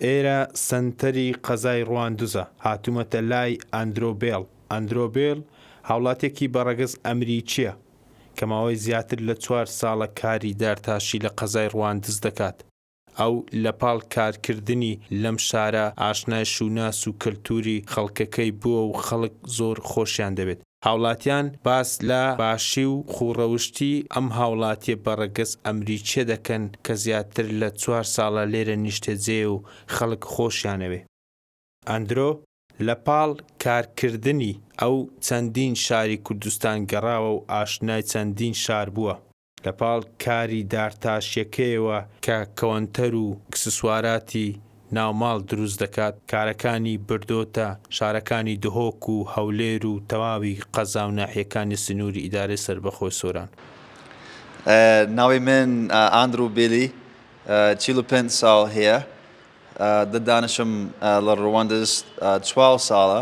ئێرە سەنتەری قەزای ڕواندزە، هاتوومەتە لای ئاندرۆ بێڵ. ئاندرۆ بێڵ هاوڵاتییەکی بە ڕەگەز ئەمریکییە، کە ماوەی زیاتر لە چوار ساڵە کاری دارتاشی لە قەزای ڕواندز دەکات. ئەو لە پاڵ کارکردنی لەم شارە، ئاشنای شووناس و کەلتووری خەڵکەکەی بووە و خەڵک زۆر خۆشیان دەوێت. هاوڵاتیان باس لە باشی و خووڕەوشتی ئەم هاوڵاتیە بەڕەگەز ئەمریکیە دەکەن کە زیاتر لە چوار ساڵە لێرە نیشتەجێیە و خەڵک خۆشیانەوێ. ئەندرۆ لە پاڵ کار کردنی ئەو چەندین شاری کوردستان گەڕاوە و ئاشنای چەندین شار بووە. لەپاڵ کاری دارتاشیەکەیەوە کە کەوەنتەر و ئکسسواراتی ناو ماڵ دروست دەکات، کارەکانی بردۆتە شارەکانی دهۆک و هەولێر و تەواوی قەزا و ناحیەکانی سنوری ئیدارەی سەربەخۆی سۆران. ناوی من ئاندرو بیلی چل و پێنج ساڵ هەیە دە دانشم لە ڕواندز چوار ساڵە.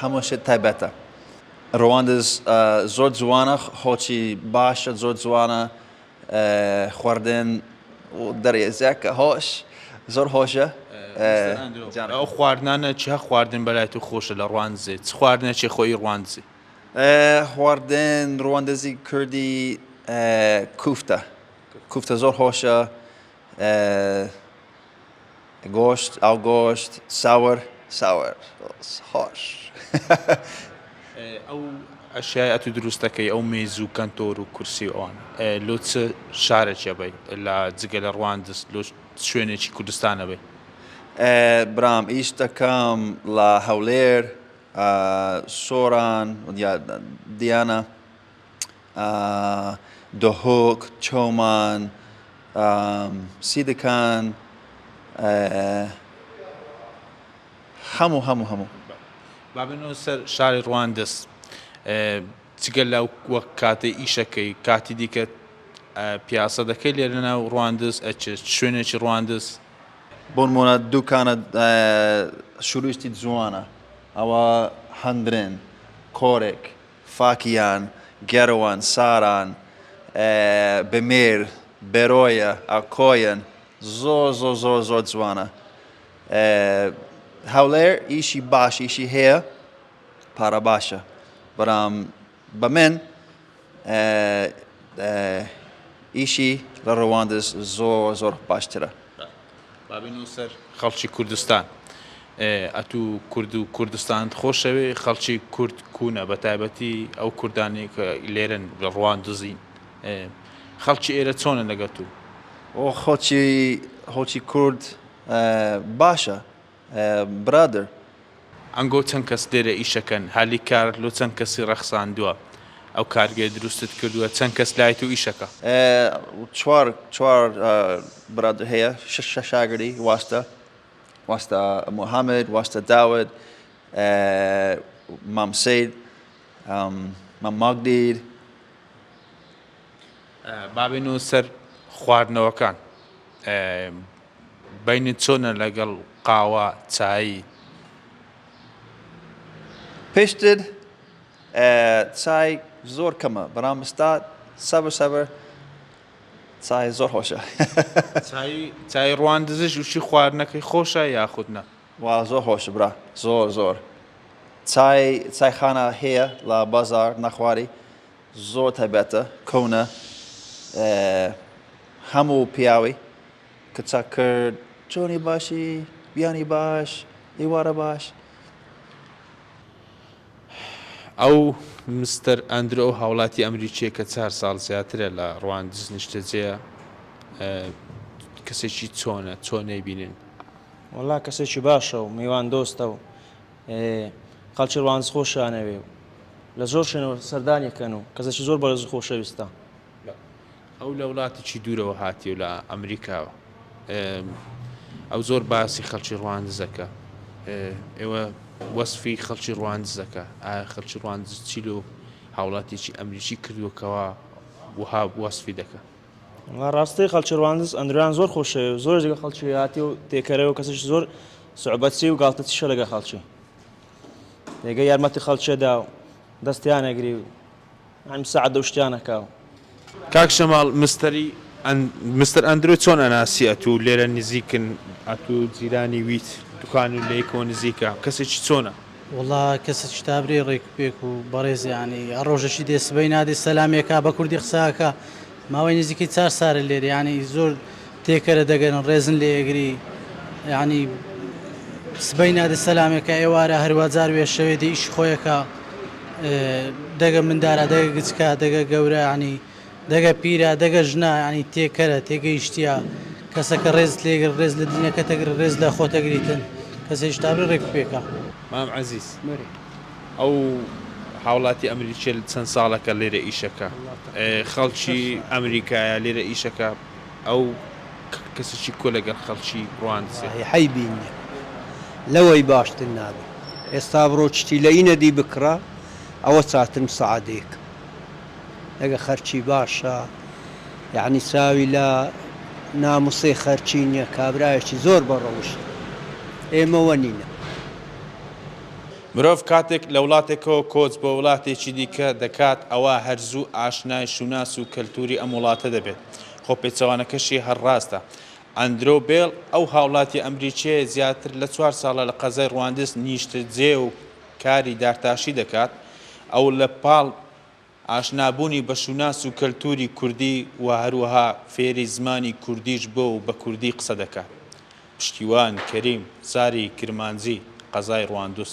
هەموو شت تایبەتە. ڕواندز زۆر جوانە خۆچی باشە زۆر جوانە خوەردن دەرێزە کە هۆش زۆر هۆشە. ئەو خواردنانە چ خواردن بەلای تۆ خۆشە لە ڕواندزێ چ خواردنە چێ خۆی ڕواندزی؟ خواردن ڕواندزی کوردی کوفتە کوفتە زۆر هۆشە گۆشت ئاو گۆشت ساور ساور خۆش ئەو ئەشیای ئەتو دروستەکەی ئەو مێز و کەنتۆر و کورسی و ئەوان لۆ چ شارێکێ بی لە جگە لە ڕواندز لۆ شوێنێکی کوردستانە بی برام ئیش دەکەم لە هەولێر سۆران دیانە دهۆک، چۆمان، سیدکان، هەموو هەموو هەموو. با بێنەوە سەر شاری ڕواندز، جگە لە وەک کاتی ئیشەکەی کاتی دیکە پیاسە دەکەی لێ لەناو ڕواندز ئەچێت شوێنێکی ڕواندز؟ بۆن مۆنە دووکانە شوروشتی جوانە ئەوە هەندرێن کۆرێک فاکیان، گەروان، ساران، بمیر، برۆیە، ئەکۆیەن، زۆر زۆر زۆر زۆر جوانە هەولێر ئیشی باش ئیشی هەیە پارە باشە برام بە من ئیشی لە ڕواندز زۆر زۆر باشترە. بابی نوسەر خەڵکی کوردستان ئەتو کورد و کوردستانت خۆشەوێ خەڵکی کورد کوونە بە تایبەتی ئەو کوردانی کە لێرن لە ڕوان دزین خەڵکی ئێرە چۆنە لەگەتوو خۆچی هۆچی کورد باشە برادەر. ئەنگۆ چەند کەس لێرە ئیشەکەن هالی کار لۆ چەند کەسی ڕەخساندوە ئەو کارگەیە دروستت کردوە چەند کەس لای تۆ ئیشەکە. چوار چوار برادەر هەیە شەش شاگردی واستە واستە موهامد واستە داود مام سید مام ماگدیر. بابێنەوە سەر خواردنەوەکان بینت چۆنە لەگەڵ قاوە چایی؟ پێشتر چای زۆر کەمە بەڵام ستا سەبر سەبر چای زۆر خۆشە چای ڕوان دزش وشی خواردنەکەی خۆشە یاخود نە وا زۆر خۆش برا زۆر زۆر چای چایخانە هەیە لە بازار نەخواری زۆر تایبەتە کەونە هەموو پیاوی کچە کرد چۆنی باشی بیانی باش ئیوارە باش. ئەو مستەر ئەندرۆ ئەو هاوڵاتی ئەمریکیە کە چار ساڵ زیاترە لە ڕواندز نیشتەجێیە کەسێکی چۆنە چۆن نەیبینن؟ وەڵا کەسێکی باشە و میوان دۆستە و خەڵکی ڕواندز خۆشیانەوێ و لە زۆر شوێنەوە سەردانی ئەکەن و کەسێکی زۆر بەڕێز و خۆشەویستە. ئەو لە وڵاتێکی دوورەوە هاتیەو لە ئەمریکاوە ئەو زۆر باسی خەڵکی ڕواندز دەکا ئێوە وەسفی خەڵکی ڕواندز دەکا ئا خەڵکی ڕواندز چی لۆ هاوڵاتێکی ئەمریکی کردووە کەوا وها وەسفی دەکە ڕاستی خەڵکی ڕواندز ئەندروان زۆر خۆشەوێ و زۆر لەگە خەڵکی هاتی و تێکەرەوە و کەسش زۆر سعبەتی و گاڵتەچیشە لەگە خەڵکی لێگە یارمەتی خەڵکێدا و دەستیانەگری و نعیم سەعد ئەو شتیانە کاو. کاک جەماڵ مستەری ئەن مستەر ئەندرۆی چۆن ئەناسی ئەتوو لێرە نزیکن ئەتوو جیرانی ویت دوکان و لەیکەوە نزیکە کەسێکی چۆنە؟ وەڵا کەسێکی تابرێ ڕێک و پێک و بەڕێزە یانی هەر ڕۆژەکی دێ سبەی نادێ سەلامی ئەکا بە کوردی قسە ئەکا. ماوەی نزیکەی چار سارە لێرە یانی زۆر تێکەرە دەگەرن ڕێزن لێ ئێگری یانی سبەی نادە سەلامێکە ئێوارە هەروە جار وێ شەوێ دێ ئیشی خۆیەکە دەگە مندارە دەگە گچکە دەگە گەورە ینی دەگە پیرە دەگە ژنا ینی تێکەرە تێگەیشتە کەسەکە ڕێز لێگر ڕێز لە دینەکە تەگر ڕێز لە خۆتەگریتن کەس هێشتابی ڕێک پێکە. مام عزیز ئەو هاوڵاتی ئەمریکیە چەند ساڵەکە لێرە ئیشەکە خەڵکی ئەمریکایە لێرە ئیشەکە ئەو کەسیی کۆ لەگەر خەڵکی ڕواندزێ. وەڵاهی حەیبی نیە لەوەی باشتر نابێ ئێستا بڕۆ چتی لە ئینەدی بکڕە ئەوە چاترم سەعەدێک ئەگە خەرچی باشە یەعنی چاوی لە ناموسێ خەرچی نیە کابرایەکی زۆر بە ڕەوشتە ئێمە وەنینە. مرۆڤ کاتێک لە وڵاتێکەوە کۆچ بۆ وڵاتێکی دیکە دەکات ئەوا هەر زوو ئاشنای شوناس و کەلتوری ئەم وڵاتە دەبێت، خۆ پێچەوانەکەشی هەر ڕاستە. ئەندرۆو بێڵ، ئەو هاوڵاتیە ئەمریکیەیە زیاتر لە چوار ساڵە لە قەزای ڕواندز نیشتەجێیە و کاری دارتاشی دەکات، ئەو لە پاڵ، ئاشنابوونی بە شوناس و کەلتووری کوردی و هەروەها فێری زمانی کوردیش بووە و بە کوردی قسە دەکات. پشتیوان کەریم، زاری کرمانجی، قەزای ڕواندوز.